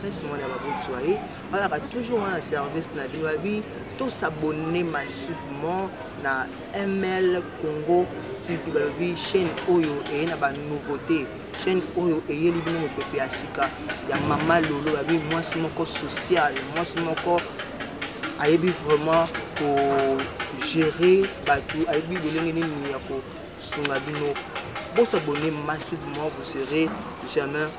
Prince mwana baboti wa ye balaka toujours wana service na bino babi tosabonne massivement na ml congo tv balobi chaîne oyo eye na banouveauté chaîne oyo eyeli bino mopepe ya sika ya mama lolo babi mwasi moko sociale mwasi moko ayebi vraiment kogere bato ayebi lolenge nini ya kosunga bino bosabonne massivement vous serez jamais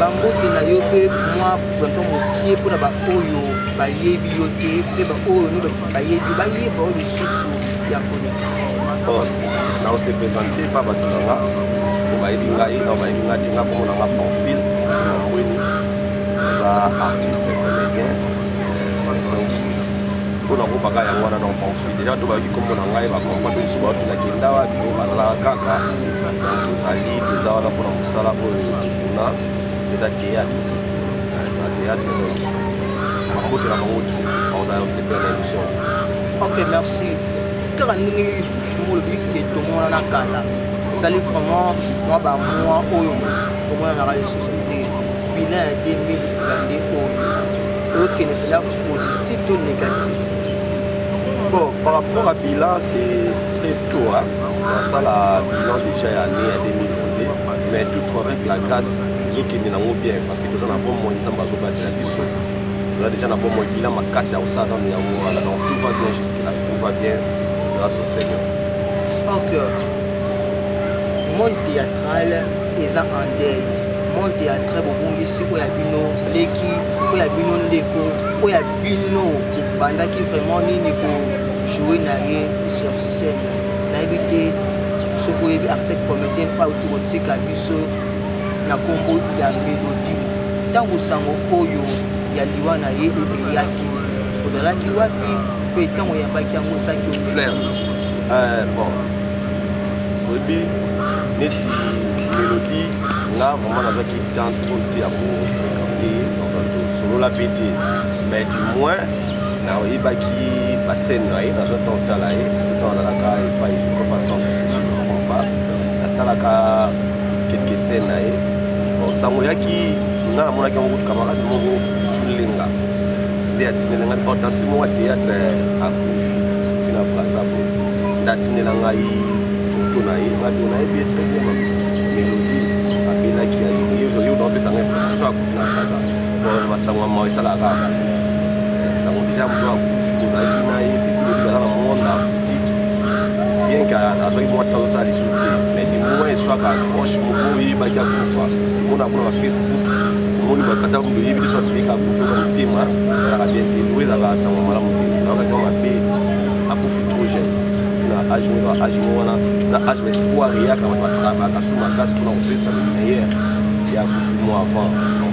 bambote na yo mpe mwa vraimen mokie mpo na baoyo bayebi yo te mpe baoyo no bayebi bayeba oyo lisusu ya koleka oh, na ose présente pa bato na nga po bayebi ngai na bayebi ngai te nga komona nga profil na mbweni aza artiste comédien donc mpona kobaka yango wana na conflit deja to bayoki nkombo na ngai bakompa to biso baoki na kenda wapi bazalaka kaka tozali toza wana mpona mosala oyo tokuna eza théâtre na théâtre donc bakotela bango tu bakozala osepela na émission ok merci kaka ndenge jomo olobi ke tomona na kala esali vraiment mwa bamwa oyo tomonanaka lisusu te bilan ya 2022 oyo oyokende bilan positif to négatif bon par rapport à bilan c'est très Toi, nasala bilan déjà ya année ya 2022 mais toutefois avec la grâce ezokende nango bien parce que toza na bomoi nzambe azobatela biso toza déjà na bomoi bilan makasi ya kosala nano yango wana donc tout va bien jusque là tout va bien grâce au seigneur ok monde théâtral eza en deuil monde théâtral bobongisi oyo ya bino leki oyo ya bino ndeko oyo ya bino obandaki vraiment nini ko joue na ye sur scène nayebi te soki oyebi article comédien oyo tokotika biso na nkombo ya melodi ntango sango oyo ya liwa na ye eyaki ozalaki wapi mpe ntango oyambaki yango osaki flair euh, bon oyebi neti melodi nga vraiment nazwaki temps trop te ya kofréquente donc tosololaki te mais du moins nayebaki basene na ye nazwa ntango tala ye surtout ntango azalaka epai je crois pas sans souci sur le combat natalaka quelque scène na ye bon sango yaki nga namonaki yango kutu camarade moko pichulenga nde atinela ngai hortensi moko ya théâtre akufi fi na brazzaville nde atinela ngai foto na ye nado nayebi ye très bien mélodie abelaki ya ye oyo naopesa ngai information akufi na brazzaville masango ya mawa esalaka sango deja moto akufi ozalaki na ye depuis lobi aza na monde artistique bien ke azwaki mwa ntango osala lisu te mais du moment eswaka proche moko oyebaki akufa omona kuna ba facebook omoni bakata moto oyebi te so abimeki akufi oka motema esalaka bien te oyo ezalaka sango malamu te naokaki mabe akufi trop jeune na age moko age moko wana eza age ma espoir eyaka bato batravaka su makasi mpona kopesa meilleur ya kufi mwa avant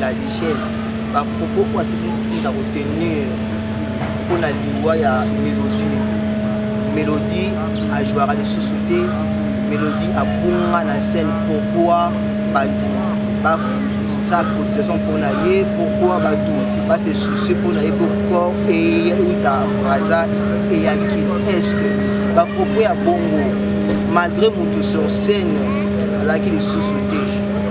la richesse bapropos oyo asemutu na kotenir mpo na liwa ya mélodie mélodie ajouaka lisusu te mélodie abunga na scène pourkoi bato sa cotisation mpo na ye pourkoi bato base soucie mpo na ye po corps eyeuta braza eyaki estce bapropos ya bongo malgré motu sur scène azalaki lisusu te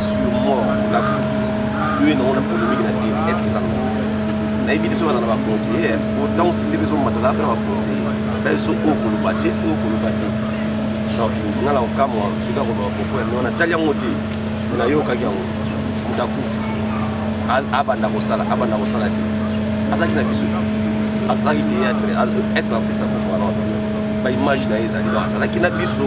sur moi la bouffe yo ye nango na polémique na tv est ce que eza nango nayebi te so baza na baconseiller po ntango site mpe ezomatala mpe na baconseiller bayebi so oyo koloba te oyo koloba te donc nga na kokamwa soki akoloba propos ya mio natali yango te me nayokaki yango moto akufi abanda kosala abanda kosala te azalaki na biso te azalaki théâtre est artiste akufa wana baimage na ye ezali donc azalaki na biso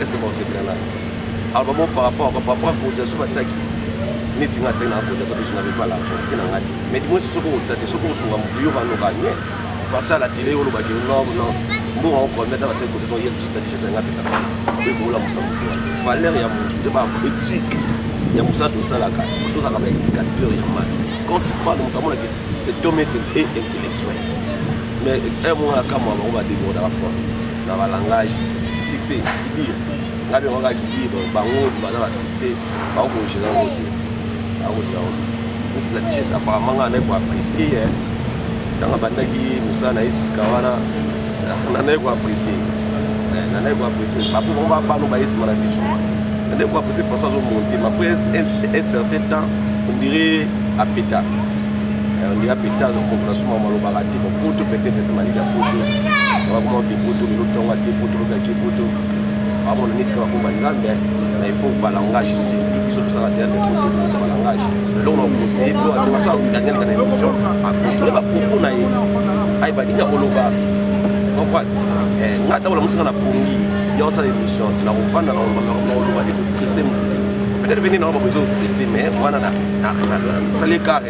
est ce que bakosepela na album o par rapport par rapport cotisation batiaki neti nga atiaki na cotisation biso na bipa l'argent ti na nga te mais du moins soki okotisa te soki osunga motu yo vanoka nie parce à la télé olobaki non non mbongo yango combien ta batiaki cotisation ye na t-shirt yanga apesaka ekola mosala motu wana valeur ya motu te ba éthique ya mosala tosalaka tozalaka ba indicateur ya masse quand tu parle moto amonaki cet homme est intellectuel mais un mois na kamwa bango badebordaka fort na ba langage succès qui dire nga bien nga qui dire bango baza ba succès ba ko gérer ngo te ba ko gérer ngo te toute la richesse apparemment nga na ko apprécier hein tanga bandaki musa na esika wana na na ko apprécier eh, na na ko apprécier ba pour ba ba no ba esima na biso na na ko apprécier François zo monter mais après un certain temps on dirait à pétard eh, on dirait à pétard on comprend suma malobaka Poto peut-être pe malika poto. Ba kuma ke poto le tonga ke poto le ke poto. Ba mo nit ka ko ba nzambe mais il faut ba langage ici. Tout biso tout ça la terre faut tout biso ba langage. Là on a conseillé pour la démarche à gagner dans l'émission à contrôler ba propos na ye. Aïe ba dinga ko loba. Comprendre. Eh ngata wala musika na pongi. Ya osala émission na ko vanda na ko loba de ko stresser mutu. Peut-être venir na ko besoin stresser mais wana na na na sale carré.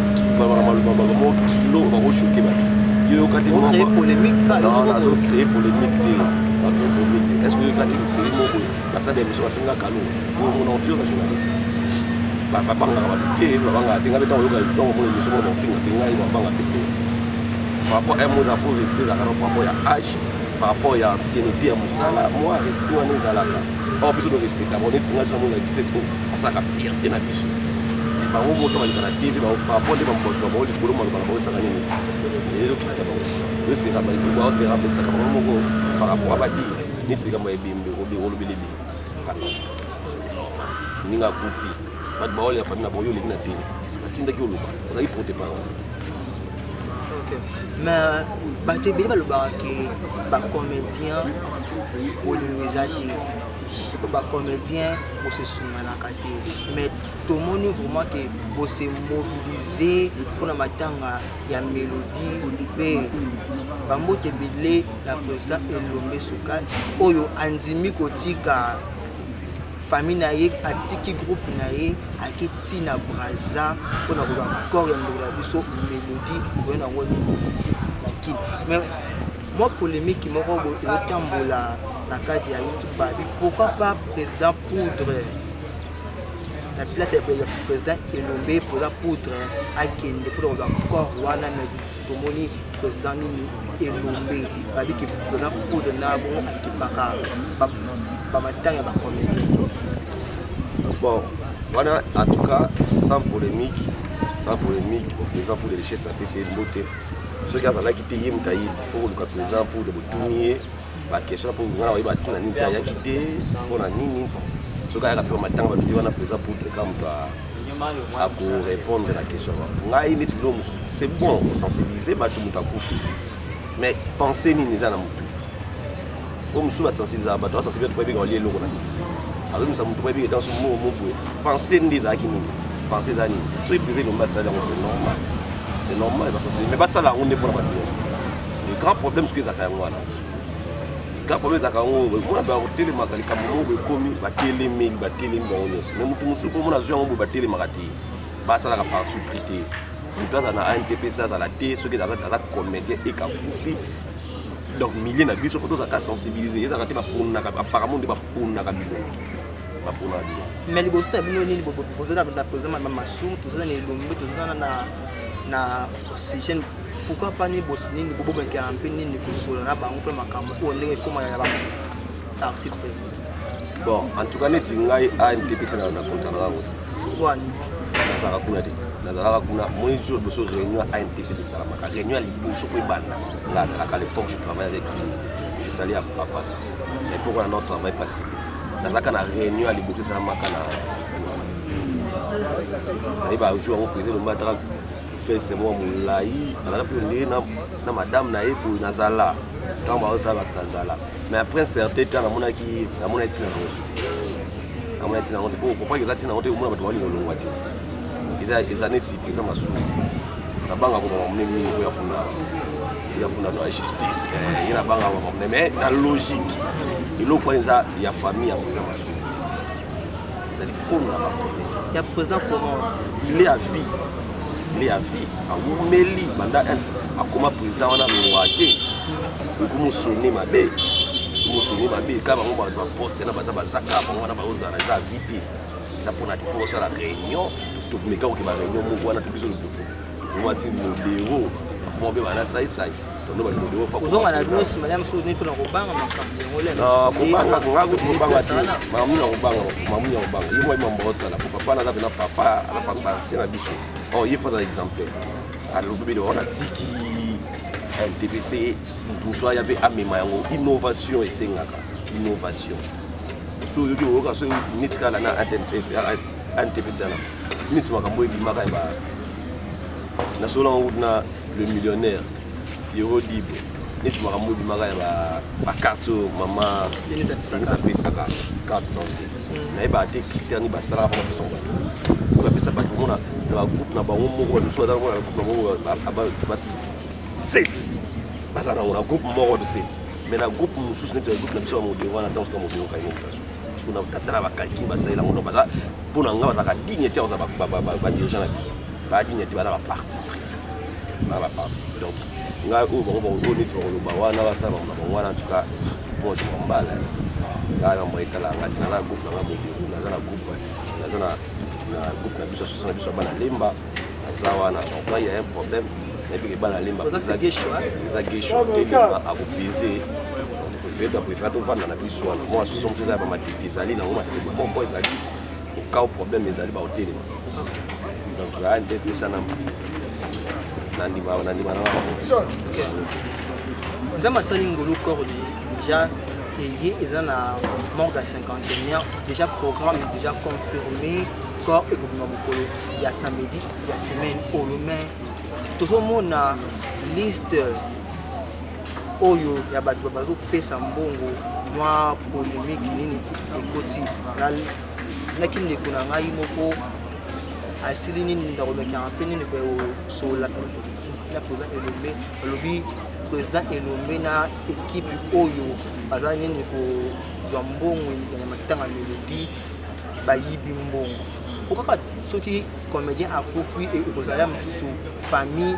balobaka maloba maloba moko kilo bakoshoke bato yoyoka te nazo créer polémique te bato ekomi te est ce que oyoka te moseri moko basala émission bafinga kalo omonaka mpe oza journaliste babangaka bato te babangaka te ngai mpe ntango oyoka ntango omona émission moko bafinga mpe ngai babanga mpe te par rapport à moza fo respect ezalaka par rapport ya age par rapport ya ancienneté ya mosala mwa respect wana ezalaka awa biso to respectaka neti ngai so namona 17 o azalaka fierte na biso bango moto baleka na tv bapo nde bamozwa bango likolo maloba na bango ezaka nini ezokitisa bango yoseka baoseka pesaka bango moko par rapport ya badi neti likambo ya ebembe olobeli ebembe ninga akufi bato baoyo ya famille na bango yo oleki na tv atindaki oloba ozalaki prote parole ma bato ebele balobaka ke bacomédien bolingo eza te bacomédien bosesunganaka te mais tomoni vraiment ke bose mobilise mpona matanga ya mélodie mpe bambote ebele na président elombe sokal oyo andimi kotika famille na ye atiki groupe na ye ake ti na braza mpona kozwa corps ya ndeko na biso mélodie oyo nango nini na kini mais mwa polemiki moko boye ezotambola na kati ya youtube babi pourquoi pas président poudre na place ya président elombe mpoza poudre akende mpo na kozwa corps wana me tomoni président nini elombe babi ke président poudre na bongo akipaka bamatanga ya bacomédien bon wana en tout cas sans polémique sans polémique bon président poudre richesse apesi ye mbote soki azalaki te ye moto ayebi fo koluka président mpo de botuni ye baquestion mpo ngai nakoyeba ntina nini te ayaki te mpo na nini soki ayaka mpe matanga bato te wana président pour leka moto akorépondre na question wana ngai neti bilo mosusu c'est bon kosensibilize bato moto akufi mais pense nini eza na motu oyo mosusu basensibilizaka bato basensibiliza to bayebika balie eloko na si azomisa moto bayebika etanso moo moboye pense nde ezalaki nini pense eza nini soki prise elombi asali yango c'est normal c'est normal basensibiliza mais basala yango nde mpo na bato nyonso le grand problème soki ezalaka yango wana grand problème ezalaka yango mona bakotelemaka likambo moko boye ekomi batelemeli batelemi bango nyonso mais moto mosusu mpo mona azwi yango boye batelemaka te basalaka partout pris te moto azala na antpc azala te soki aza comédien ekakufi donc milieu na biso fo tozalaka sensibilise ezalaka te baponaka apparemment nde baponaka bilongi baponaka bilongi mais liboso na bino nini bozala na président ma masumu tozala na elombe tozala na na oxygène pourquoi pas ni bos nini bobomekela mpe nini kosola na bango mpe makambo oyo ndenge ekoma ya bango article bon en tout cas neti ngai antepesa na konta na yango nazalaka kuna te nazalaka kuna moi jour liboso réunion ya antps esalamaka réunion ya liboso mpo ebanda nga azalaka l'époque je travaille avec simise je sali ya papasa mais pourquoi na non travail pas simise nazalaka na réunion ya liboso esalamaka na nayeba jour yango président lomba ataka feste mwa molai azalaka mpe ndenge na madame na ye boye nazala ntango baosala bato nazala mais après un certain temps namonaki namonaki ntina nango su te namonaki ntina nango te mpo okompaki eza ntina nango te omona bato balinga olongwa te eza eza neti eza masumu nabanga komama mune mingi mpo yafunda yafunda na justice eh, ye nabanga komama mune mais na logique eloko wana eza ya famille yango eza masumu ezali kolo na bapremier ya président comment il est à vie il est à vie awumeli banda akoma président wana longwa te ekomosone mabe mosoni mabe eka bango bato baposte na baza bazaka bango wana baozala eza avi te eza mpona te fo osala réunion tomeka koke baréunion moko wana mpe biso lokuku tokomati modero akoma mpe bana saisai ozonga na bino nsima ya mosusu nini mpona kobanga makambo yango lekobanga nga kutu kobanga te mamu na kobanga mamu ya kobanga ye mwai mambo osala po papa naza mpena papa na papa se na biso o oh, ye fo aza exemplaire alobi bino wana tiki mtpc moto mosusu aya mpe amema yango innovation esengaka innovation so oyoki oyoka so neti kala na antpc wana neti makambo ebimaka ya ba nasolo yango na le millionnaire yero dibo neti makambo ebimaka ya bacarte oyo mama denise apesaka carte santé mm. nayebaka te critère nini basalaka mpo bapesa bato oyo bapesa bato mona na bagroupe na bango moko bato mosusu baza mona na groupe na bango bato set baza nango na groupe moko de set mais na groupe mosusu neti bagroupe na biso ya modero wana ntango soka modero kai mobilaso soki na katala bakalkile basalela ngo baza mpo na ngai bazalaka digne te baza badirigeant na biso badigne te baza baparti pris la partie donc ngai oyo bango bakoyo neti bakoloba wana basala bango na bango wana antuka bon je mombala ngai na moye tala ngai te naza groupe na ngai modero naza na groupe naza na groupe na biso soso na biso ya bana lemba aza wana donc ngai ya un problème nayebi ke bana lemba eza gesho te lemba akopese toprefere tovanda na biso wana mwa soso mosusu eza ya bamatete ezali nango matete bomoko ezali okao problème ezali baotelema donc aa nte pesa namba nandima nandima na bango nzambe asali ngolu corps déjà eye eza na manque ya cinquantenaire déjà programme déjà confirmé corps ekobima mokolo ya samedi ya semaine oyo mais tozomona liste oyo ya bato bazopesa mbongo mwa polemike nini ekoti naki ndeko na ngai moko asili nini ndakomekaka mpe nini kosola na président elombe alobi président elombe na ekipe oyo baza nini kozwa mbongo ya matanga melodi bayibi mbongo po kaka soki comédien akufi ekozala mosusu famille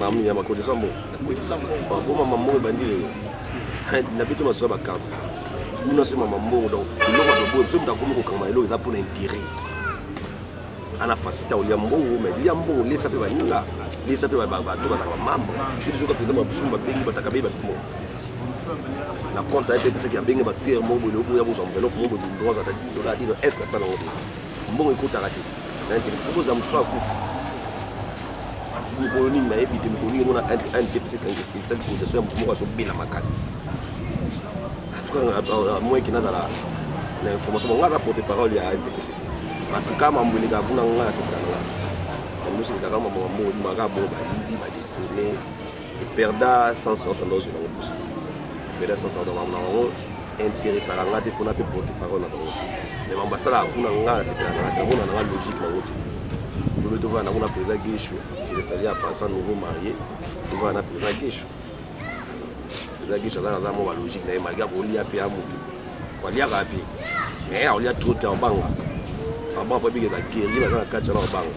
mamu ya makodisa mbongo bakoma mambongo ebandi lelo na bitu masuka bakansa kuna so mama mbongo donc eloko toboye biso moto akomi kokanga eloko eza mpona intérêt ana fasita olia mbongo mai lia mbongo lesa mpe baninga lesa mpe bato bazanga mambo mpe biso kaka eza babisumu babengi bataka be bato moko na compte aye mpe pesaki abenge batere moko boye oboya bozwa enveloppe moko boye droit ata 10 dollars 10 dollars est ce que asala yango te mbongo ekotaka te mokolo nini nayebi te mokolo nini omona ndepesa esali cotisation ya moto moko azobela makasi moyeke nazala na information bango aza porte parole ya ndepc te matuka mambo elekaka kuna ngai asekananga yango eselekaka mambo mambo maka bongo bayibi badetourne eperda sens oyo tanda ozwi nango mposo eperda sens na bango nango interessaka nga te mpona mpe porte parole na bango me mambo asalaka kuna nga nasepelaka nga te namona nanga logique nango te lobe tovana nango na président geshu ezesali ya pensa nouveau marié tovana na président geshu président geshu aza naza mwa balogique na ye malgré akolia mpe ya motu aliaka mpe me akolia trop te abanga abanga mpo abikeza guerrier baza na kati wana abanga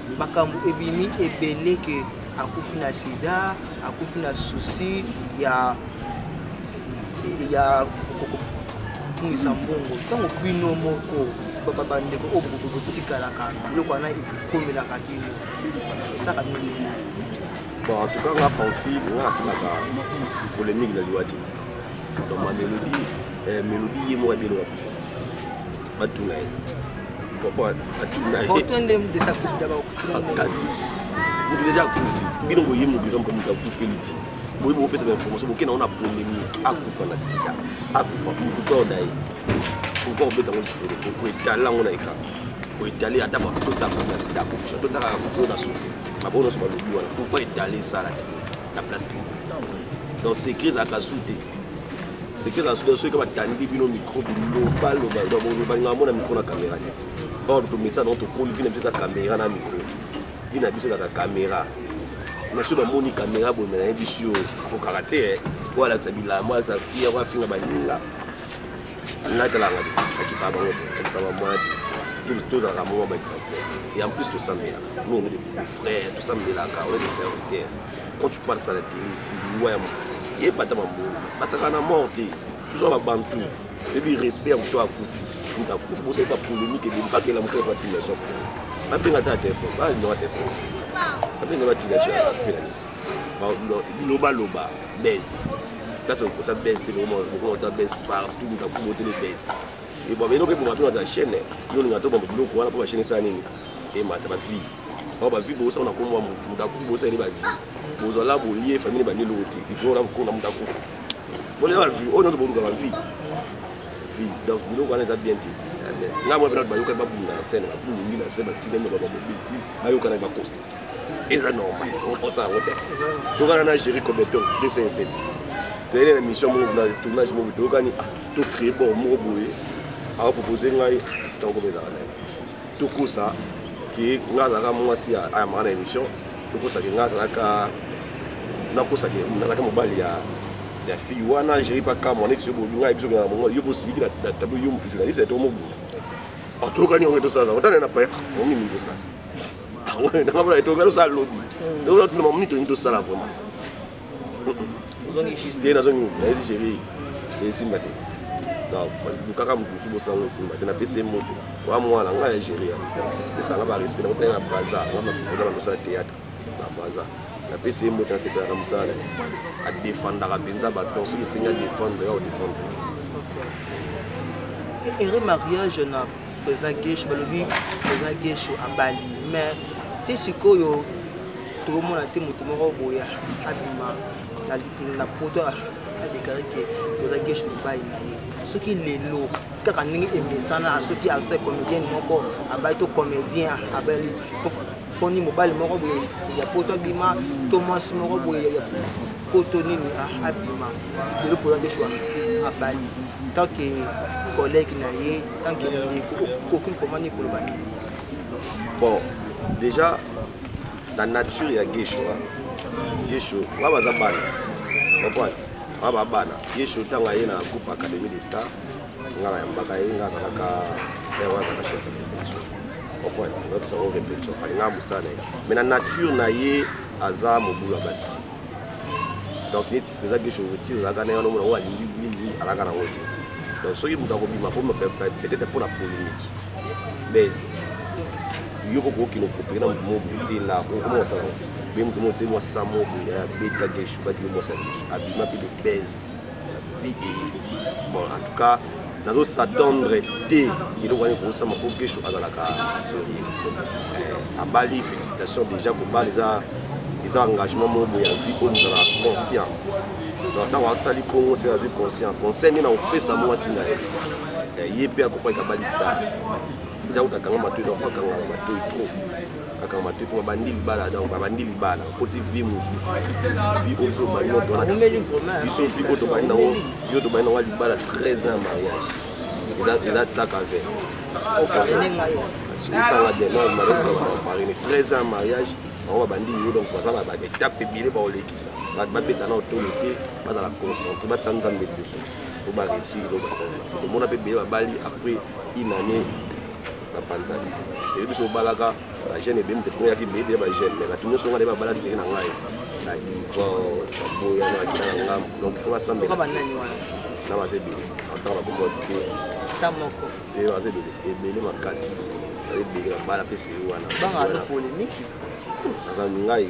makambo ebimi ebele ke akufi na sida akufi na souci ya ya kobungisa mbongo ntango bino moko bandeko oyo bokotikalaka biloko wana ekomelaka bino esaka bino bon en tout cas nga panfi nga asalaka polémique na liwa te donc ma mélodie eh, mélodie ye moko abielokaka batuna ye kasi mutu deja akufi bino boye mokili kampo moto akufeli ti boye bopesa bainformation bokenda ona polémique akufa na sida akufa mutu toda ye pourkoi obeta ngo lisolo okoetala yango na ekran oetali ata bakotisa akufa na sida akufa totaka akufa na susi maboyo nyonso balobi wana pourkoi etali esala te na place publique donc secret ezalaka su te seke na soki soki batandi bino micro biloba loba loba nga mona micro na caméra te or tomesa nango tokoli vi na biso eza caméra na micro vi na biso ezaka caméra mais soki bamoni caméra boye na yebi si okokaka te eh. oyo alakisa bilamba alakisa fiere oyo afinga baninga natalanga te akipa bango te akipa bamwana te tozalaka mwa baexemplaire et en plus tosambelaka nous on est des frères tosambelaka on est des serviteurs quand tu parles ça la télé c'est liwa ya moto yeba ata bambongo basaka na mort te biso ya babantu ebi respect ya moto akufi moto akufi bosali ba polémique ebeli bakela mosala ba pilation babenga ata telefone balindoka telefone babenga ba pilation felani bilobaloba bese place okosa bese te lokomokosa bese partout moto akufi botele bese ebwa eloko eboma mpe na chaîne yo olinga to bamba biloko wana mpo bachaîne esala nini emata ba vie awa ba vie bosa na komwa mutu mutu akufi bosa ele ba vie bozwa la bolie famille ba lelo te biko na ko na mutu akufi bole ba vie oyo ndio boluka ba vie vie donc biloko wana eza bien te nga mwa bana bayoka ba bunda na scène ba bulungi na scène ba fille ba ba bêtise bayoka na ba kosa eza normal okosa yango te tokana na géri cobetos 207 toyele na mission moko na tournage moko toyokani ah, tocree bon moko boye akopropose ngai sikakokomezaka naye tokosa ke nga azalaka mwasi ayambaka na émission tokosa ke nga azalaka nakosa ke nazalaka mobali ya ya fille wana jeri paka mwana etiso bobi nga yebiso kaka mongo yo bosiliki na tablo yo journaliste ya to mobunda batokani yango etosala otana na paya momi mingi tosala nanga mpona etokani tosala lobi tokona tuna mamoni tolingi tosala vraiment ozongi juste te nazongi nayebi chérie esimba te lukaka moto mosusu bosango esimba te napesi ye moto wa mwana ngai ya géria esanga barespect nakotaki na braza oza na mosala théâtre na braza napesi ye moto asepela na mosala na ye adefandaka mpenza bato donc soki esengi adefendre ya odefendre ere mariage na président gesho balobi président gesho abali mais ti sikoyo tokomona te moto moko boya abima na poto adeklare ke toza geshe mobali na ye soki lelo kaka ndenge emesana soki aza comédienne moko abali to comédien abali foni mobali moko boye ya poto abima to mwasi moko boye ya poto nini ah, abima lelo mpoza nde shwa abali tant que collègue na ye tant que ndeko okoki vraimen nini koloba nini bon déjà na nature ya gesho gesho ba baza bana comprendre ba ba bana gesho ntango aye na groupe académie de star nga na yambaka ye nga azalaka père wana azalaka chef de répétition comprendre oyebisa ngo répétition alingaka mosala na ye mais na nature na ye aza mobulu ya basi te donc neti mpenza gesho ti ozalaka na ye wana omona oyo alingi mingi alaka na yango te donc soki moto akobima peut-être mpo na polémique bes yo koko okino kopere na moto moko boye ti na okoma kosala be moto moko ti mwa sa moko boye abeta geshu baki yo mwasa geshu abima mpe de bes vie bon en tout cas nazo s'attendre te eloko wana ekosama mpo geshu azalaka sérieux eh, abali félicitation déjà kobala eza eza engagement moko boye ya vie oyo mozalaka conscient donc ntango asali mpongo se azwi conscient conseil nde na kopesa mwasi na ye eh, ye mpe akokwaki abali star deja kuta akanga matoi donc fo akanga matoi trop akanga matoi mpo babandi libala donc babandi libala okoti vie mosusu vie oyo biso tobandi no tona biso vie oyo tobandi nango yo tobandi nango libala 13 ans mariage eza tsaka vert esala bien non malaa paris ne 13 ans mariage bango babandi yo donc baza na baetape ebele baolekisa bato babeta na otolo te bazala concentre batisa nzambe liboso po baresui ilo basali tomona mpe beye babali après une année bapanzani seke biso obalaka bajeune ebemi mpe tokoyaki beye beye bajeune mais bato nyonso nga nde babala seke na ngai na divorce baboya na bakita na ngambo donc fo basambela na baza ebele atanga bakomoa te ata moko te baza ebele ebele makasi baza ebele babala mpe seke wana naza ngai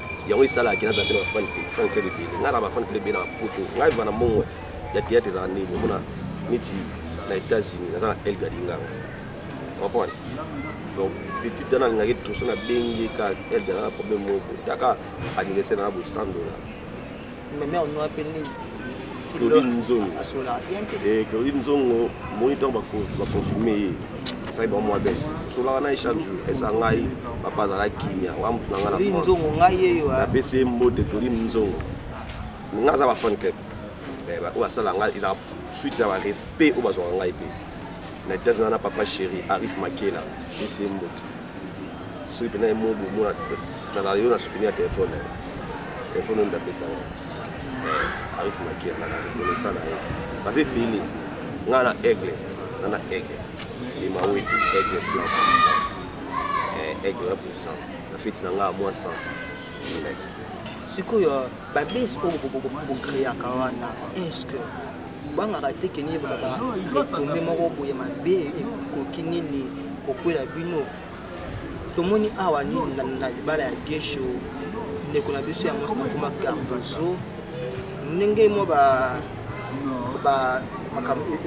yango esalaka kina aza mpe na bafan fan club ebele ngai na bafan club ebele na bapoto ngai eva na mbongo ya théâtre ezala ndenge omona neti na états-unis naza na elga linganga comprendre donc petit wana alingaki toso na bengi ka elga na problème moko taka anniversaire na bosandola meme onwa mpe nini claudine nzongo eh, claudine nzongo moni ntango baconfirme ye asali bango mwa bese tosolaka na ye chaque jour eza ngai papa azala kimia wa motu na ngai na france napesi ye mbote claudine nzongo nga aza bafan club eh, oyo asala ngai ezala suite ya barespect oyo bazwaka ngai mpe na etats na papa chéri arif makela pesi ye mbote soki mpena emo bomona nazala yo na souteni ya telefone na ye telefone oyo ndapesa na eh, arif makia na reconnaissant na ye baza ebele ngai na aigle ngai na aigle ndima weti aigle blanc puissant eh, aigle puissant na feti na ngai ya mwa 100 sikoyo babes oyo bokreaka wana eske bangaka te keni yebaka baretombe moko boye mabe ekoki nini kokwela bino tomoni awa nini na libala ya gesho ndeko na biso ya mwasi nakoma cardozo ndenge mwa ba ba makambo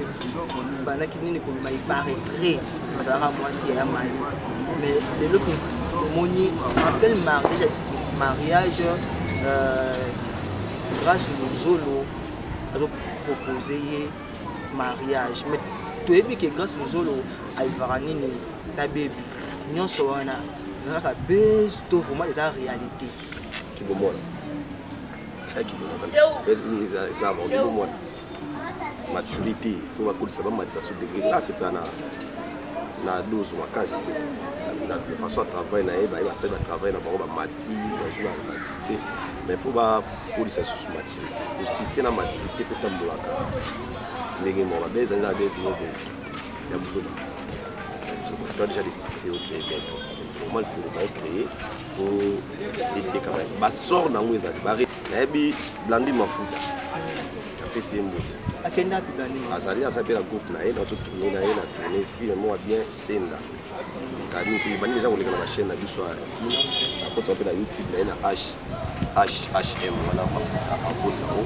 bandaki nini kobima eparaîtrait azalaka mwasi ya mayo mais lelo tomoni appel mariage euh, grâce lozolo azopropose ye mariage mais toyebi ke grâce lozolo alivaka nini na bebi nyonso wana eza kaka base to vraiment eza réalité kibomona maturité fo bakolisa bamatisa so degre nga asepela na na dose makasi na façon ya travail na ye baye basali batravail na bango bamati bazwi na succès mais fo bakolisa susu maturité osuccès na maturité fo etambolaka ndenge moko babe ezali na bese moko ya buzoba tu as déjà des succès au créer bese c'est normal pour le créer po eteka ba ba sort nango ezali ba nayebi blandi mafuta apesi ye mbote akenda pe blandi azali aza pe na groupe na ye na to tourner na ye na tourner film moko bien senda kami pe bani deja koleka na ba chaîne na biso ya akotisa pe na youtube na ye na h hhm wana mafuta akotisa ngo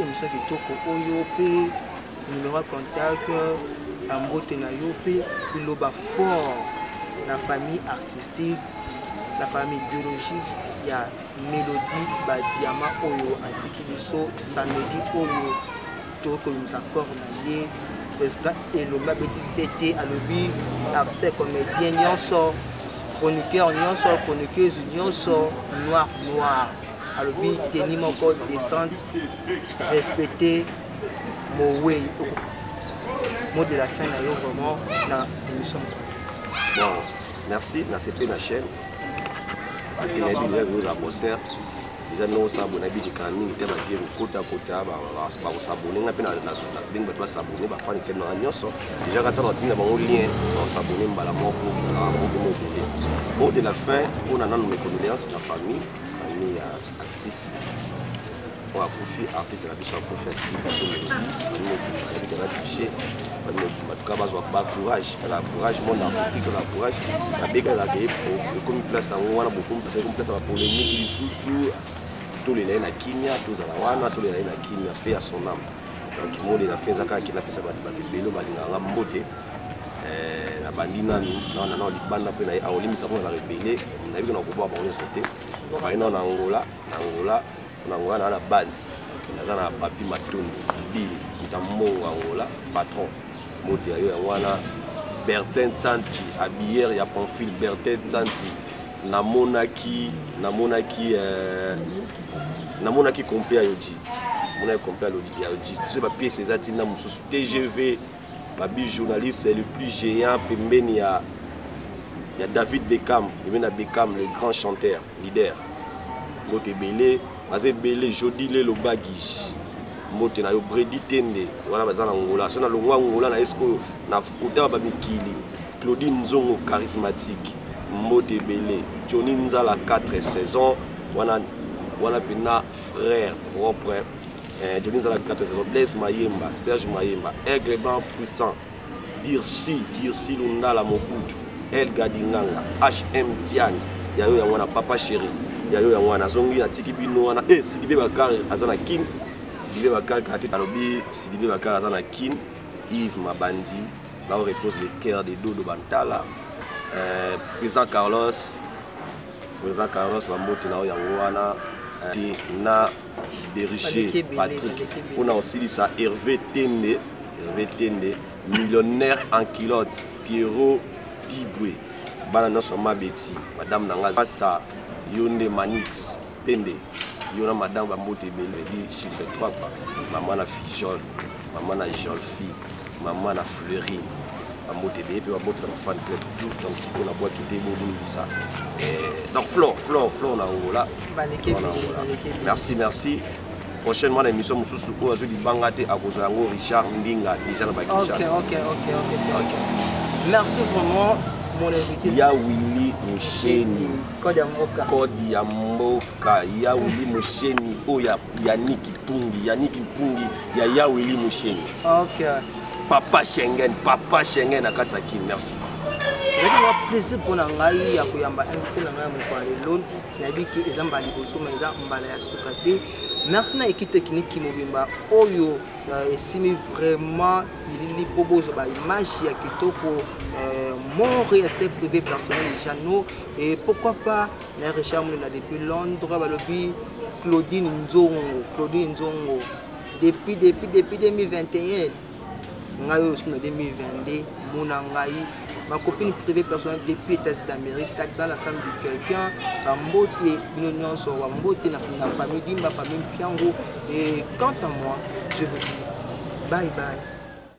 emisio kitoko oyo mpe numero ya contact na mbote na yo mpe liloba fort na famille artistique na famille biologique ya melodie badiama oyo atiki biso samedi oyo tokoki koyimisa corps na ye président elombe abeti ct alobi artiste comédien nyonso chroniqueur nyonso chroniqueuse nyonso noir noir alobi teni moko descente respecte mowei mot de la fin na yo vraiment na émission bon merci nasepeli na chaîne nasepeli na yebi ndenge oza concert eza ndenge osabona ebilikana mingi te bavie kokotakota bakosabone nga mpe nabengi bato basabone bafani te nanga nyonso deja kata natinda bango lien bakosabone mbala moko na moko mobele mot de la fin mpo na nano mecondoléance na famille famille ya artiste oyo akufi artiste na biso akufi atiki biso famille mobimba yebi tela touche famille mobimba tuka bazwa ba courage la courage monde artistique la courage nabekalaka ye ekomi place yango wana bokomi place ekomi place ya bapolemiki lisusu tolela ye na kimia tozala wana tolela ye na kimia mpe ya son ame donc molela fe eza kaka kina apesa bato bato ebele balingaka mbote eh, nabandi nanu nawana nao libanda mpe naye akolimisa mpo nazalaka ebele nayebi kona koboka bango nyonso te naye nao na angola na angola na angola naa na base naza na papi matondo bi ntammongo angola patron moto ya yo yango wana bertin tsanti abillere ya pamphile bertin tsanti namonaki namonaki euh, namonaki complet ya yoji namonaki complet ya yoji soki bapiese eza ntina mosusu tgv Babi journaliste le plus géant pembeni ya ya David Beckham, pembeni ya Beckham le grand chanteur, leader. Mbote ebele, baza ebele Jody Lelo Baguige. Mbote na yo Brady Tende, wana baza na Angola. So na longwa Angola na esko na kota ba mikili. Claudine Nzongo charismatique. Mbote ebele Johnny Nzala 4 saisons, wana wana pena frère propre Eh, Johnny Zala 4 saison, Blaise Mayemba, Serge Mayemba, Aigle Blanc Puissant, Dirsi, Dirsi Lundala Mobutu, El Gadinganga, HM Tiani, yayo yango wana papa chéri, yayo yango wana azongi natiki bino wana eh Sidibe Bakari aza na Kin, Sidibe Bakari kati alobi Sidibe Bakari aza na Kin, Yves Mabandi, là où repose le cœur de Dodo Bantala, euh, président Carlos, président Carlos Bambote na yango wana eh, na berger patrick mpo na kosilisa herve tende herve tende millionnaire en culotte pierrot dibwe bana nyonso ya mabeti madame na ngai pasta yo nde manix pende yo na madame bambote ebele di chiffre 3 mama na fijole maman na Jolfi, maman na Fleury, maman de bébé, maman de fan club tout, donc on a boîte qui déboule ça. Donc Flo, Flo, Flo na Angola. Merci, merci. prochainement na émission mosusu oyo azwi libanga te akozwa yango richard ndinga déjà na bakinshasa merci vraiment mon invité ya willi musheni code ya mboka code ya mboka ya willi musheni oyo ya yannick mpungi yannick mpungi Yaya Willy Moucheni. Ok. Papa Schengen, papa Schengen na kati ya kin. Merci. ezalaki mwa plaisir mpo na ngai ya koyamba invité na ngai ya mokolo ya lelo nayebi ke eza mbala liboso ma eza mbala ya suka te merci na équipe technique mobimba oyo euh, esimi vraiment bilili mpo bozwa baimage ya kitoko euh, mon réalité privé personnel et jeannot et pourquoi pas na richard molina depuis londres balobi claudine nzongo claudine nzongo depuis depuis depuis 2021 ngai oyo sina 2022 mona ngai ma copine privée personnelle depuis états d'amérique kata la femme de quelqu'un bambote bino nyonso bambote na famille dimba famille mpiango et quant à moi je vous dis bye bye